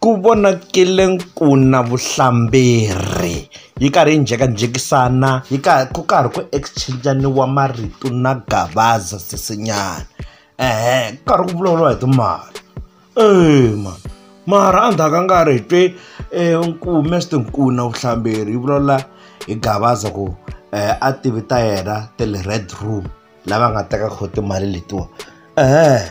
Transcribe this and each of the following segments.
Ku vonakele ku na vuhlamberi yi karhi yi njhekanjhekisana yi karhi ku karhi ku exchange-iwa marito na Gavaza sesi nyana ku karhi ku vulavuriwa hi timali eya mhani mara endzhaku ka nkarhi hi twe Nkume swi tiva ku na vuhlamberi yi vulavula hi Gavaza ku a tivi ta yena ta le red room. lava nga teka kho timali letiwa ehe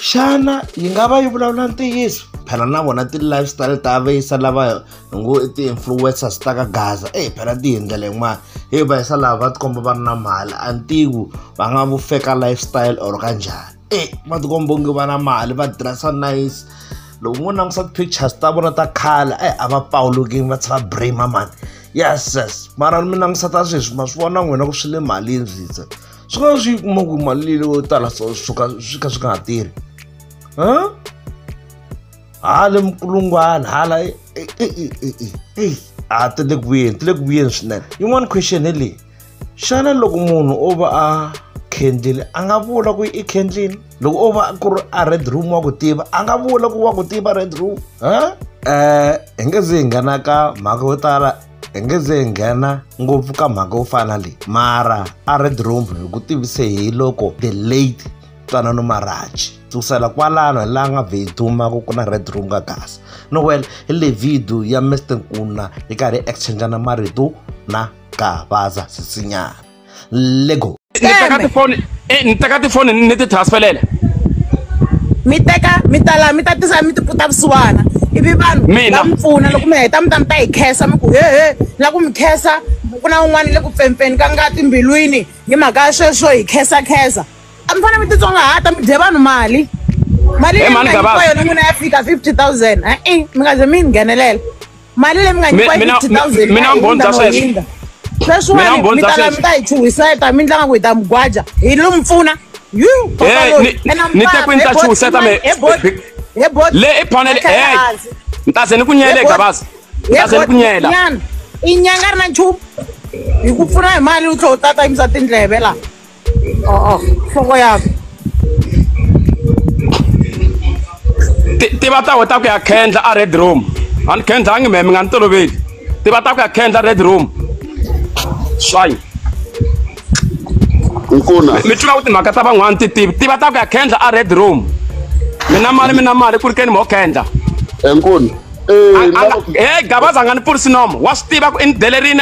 xana yi nga va yi vulavula ntiyiso phela na vona ti-lifestyle ta vayisa lava ngo ti-influencers ta ka gaza eyi phela ti hi ndlela yin'wana hi vayisa lava va tikomba va ri na mali a ntivo va nga vu feka lifestyle or ka njhani e va tikomba onge va na mali va dressa nice loko mo langusa ti-pictures ta vona ta khale e a va pawulukini va tshava brima mani yes yes mara mi langusa ta sweswi ma swi vona n'wina ku swi le malini switse swi nga swi kuma ku mali leyi yo tala so swi ka swi ka swi nga ha tirhi hala mukulungwana hala a ti le ku vuyeni ti le ku vuyeni swinene yin'wana question hi leyi xana loko munhu o va a khendlile a nga vula ku i khendlile loko o va ku ri a red room wa ku tiva a nga vula ku wa ku tiva red room ha um hi nge ze hi nghena ka mhaka yo tala hi nge ze hi nghena ngopfu ka mhaka yo fana leyi mara a red room hi ku tivise hi loko the late twanano maraji kusukela kwalano hi laha nga vhe dumaka ku na red room ka gasa no well hi le video ya mr nkuna hi karhi hi exchangana marito na ka baza sisinyana lego ni teka tifoni eh, ni teka tifoni ni ti transferela mi teka mi ta laha mi ta tisa mi tiputa vusiwana ivi vanhu va mi pfuna loko mi heta mi ta mi ta hi khensa mi ku hehe la ku mi khensa ku na un'wana le ku pfempfeni ka nga timbilwini hi mhaka ya sweswo hi khensa khensa a mi fanele mi titsongahata mi dye vanhu mali mali leyi yona n'wina ya fika fifty thousand e-e mi nga ze mi yi nghenelela mali leyi mi nga nyikiwa yi Mina- fifty thousand mina mi bondza sweswo. Mina sweswiwani mi bondza ta sweswo. mi ta yi chuhiseta mi tlanga ku hi ta mi gwaja hi lo mi pfuna yu Eh, ni- ni te ku ni ta chuhiseta me- le i panele hey ntaze ni ku nyele gabazi ntaze ni ku nyela inyanga ri na nchumu hi ku pfuna hi mali u tlhe u tata yimisa tindleve la 어, 어, 먹어야. tiva ta weta ku ya kendla a red room ani kendla a ngi meme nga ni toloveli tiva ta ku ya kendla red room swayi nkuna mi tiva ku timhaka ta van'wana ti tivi tiva ta ku ya kendla a red room mi na mali mi na mali ku ri keni mo kendla nkuna e, e, e gabaza nga ni pfurisi nomo wa swi tiva ku i ni delerini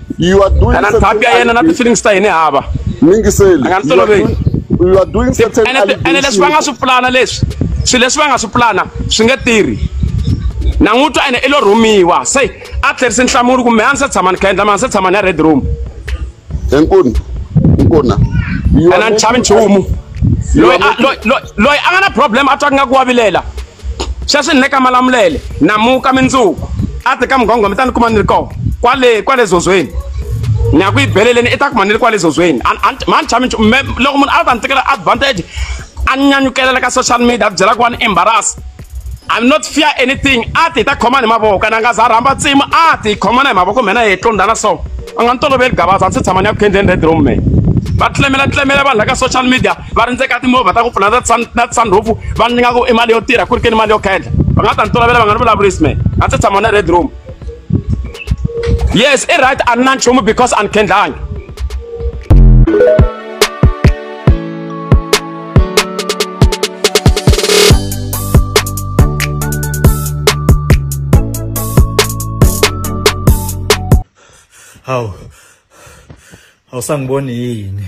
You are doing kana ntshapi ya yena na ti-feelings ta hini hava Mingiseli. Anga ni toloveli. You are doing certain ene ti- ene leswi va nga allegations. swi pulana leswi swilo leswi va nga swi pulana swi nge tirhi na n'wi twa ene i lo rhumiwa se a tlherisi nhlamulo kumbe a ni se tshama ni kha endla ma ni se tshama ni ya red room Enkulu. Nkona. You ene a are ni chavi making- nchumu You loyi are a- making- loyi- loyi- loyi a nga na problem a twa ku nga ku wavilela sweswi ni le ka malamulele namuka mindzuku a ti ka mugongoma mi ta ni kuma ni ri kona kwale kwale zozweni ni ya ku yi beleleni i ta kuma ni ri kwale zozweni mani chami loko munhu a ta ni tekela advantage a ni nyanyukelela ka social media a byela ku wa ni embarrass I'm not fear anything a ti ta khoma ni mavoko na nga za rhamba tsimu a ti khoma na hi mavoko mina hi tlondana so a nga ni toloveli gabaza a ndzi tshama ni ya ku khendleni red room me va tlemela tlemela vanhu la ka social media va rindzeka timovha ta ku pfula na ta na tisandhofu va ni nga ku i mali yo tirha ku ri ke ni mali yo khendla va nga ta ni tolovela va nga ni vulavurisi me a ndzi tshama na red room yes i right a ni na nchumu because a ni khendlangi hawu awusangiboni yini